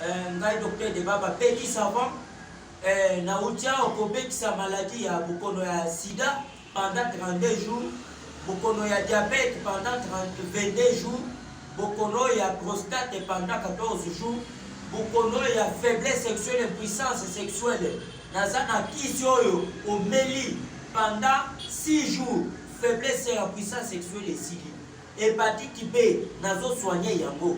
Eh, ngai docteur de baba peki savant eh, nauti awa kobekisa maladi ya bokono ya sida pendant 32 jours bokono ya diabete pendant 22 jours bokono ya prostate pendant 14 jours bokono ya faiblesse sexuelle impuissance sexuelle naza na kisi oyo omeli pendant 6 jours faiblesse ya puissance sexuelle esili hepatite b nazosoigne yango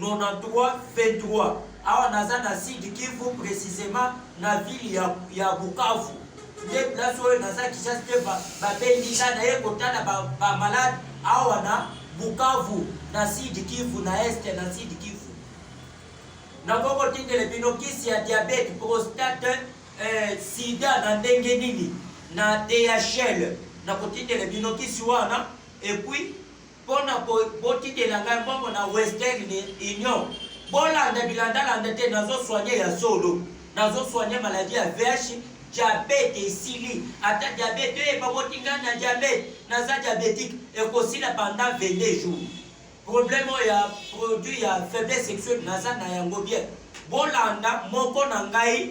9323 awa naza na sud kivu precisement na ville ya, ya bukavu nde place oyo naza kishas te babendi nga na ye kotala bamalade ba awa na bukavu na sud kivu na este na sud kivu nakokotindele bino kisi ya diabete prostate eh, sida na ndenge nini na dhl nakotindele bino kisi wana epuis Mpo na botikela ngai mbongo na Western Union, bolanda bilandalanda te, nazo soigne ya solo, nazo soigne maladie ya VIH, diabete esili, ata diabete oyo ebaboti ngai na diabete, naza diabetique, ekosila pendant 22 jours. Problème oyo ya produit ya faiblesse sexuelle naza na yango bien, bolanda moko na ngai.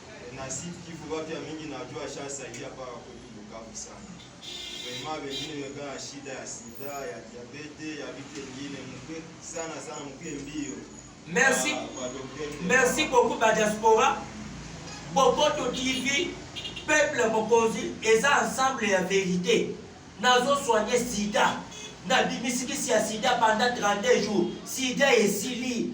na site kivu batu ya mingi na jua shasaidia mpaka kwetu bukavu sana vrema bengine meka na shida ya sida ya diabete ya vitu engine muke sana sana muke mbio merci ah, merci beaucoup ba diaspora bokoto tv peuple mokonzi eza ensemble ya verite nazosoigne sida nabimisiki sia sida pendant 32 jours sida esili